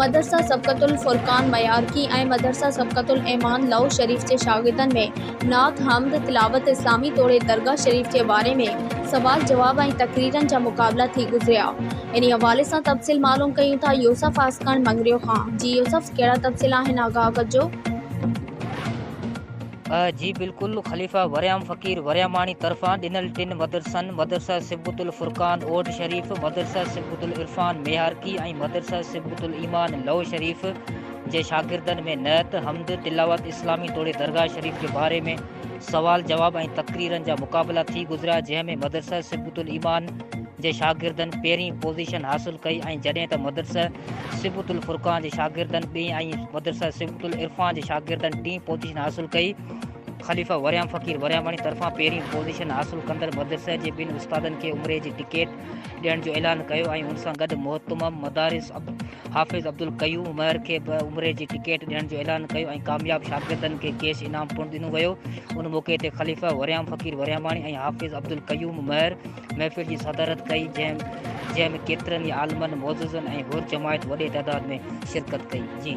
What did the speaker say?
مدرسه سبقت الفرقان ميارڪي ۽ مدرسه سبقت الايمان لئو شريف جي شاگردن ۾ نعت، حمد، تلاوت اسلامي توڙي درگاهه شريف جي باري ۾ سوال جواب ۽ تقريرن جا مقابلا ٿي گذريا. انهي حوالي سان تفصيل معلوم ڪيون ٿا يوسف عاشقاڻي مڱريو کان. جي يوسف ڪهڙا تفصيل آهن آگاهه ڪجو. جي بلڪل خليفه وريام فقير ورياماڻي طرفان ڏنل ٽن مدرسن مدرسه صبغة الفرقان اوڍ شريف، مدرسه صبغة العرفان ميهارڪي ۽ مدرسه صبغة الايمان لئو شريف جي شاگردن ۾ نعت، حمد، تلاوت اسلامي توڙي درگاهه شريف جي باري ۾ سوال جواب ۽ تقريرن جا مقابلا ٿي گذريا جنهن ۾ مدرسه صبغة الايمان جي شاگردن پهرين پوزيشن حاصل ڪئي ۽ جڏهن ته مدرسه صبغة الفرقان جي شاگردن ٻئين ۽ مدرسه صبغة العرفان جي شاگردن ٽين پوزيشن حاصل ڪئي. خليفه وريام فقير ورياماڻي طرفان پهرين پوزيشن حاصل ڪندڙ مدرسه جي ٻن استادن کي عمري جي ٽڪيٽ ڏيڻ جو اعلان ڪيو ۽ ان سان گڏ مهتمم مدارس حافظ عبدالقيوم مهر کي به عمري جي ٽڪيٽ ڏيڻ جو اعلان ڪيو ۽ ڪامياب شاگردن کي ڪيش انعام پڻ ڏنو ويو. ان موقعي تي خليفه وريام فقير ورياماڻي ۽ حافظ عبدالقيوم مهر محفل جي صدارت ڪئي جنهن جنهن ۾ ڪيترن ئي عالمن معززن ۽ حر جماعت وڏي تعداد ۾ شرڪت ڪئي جي.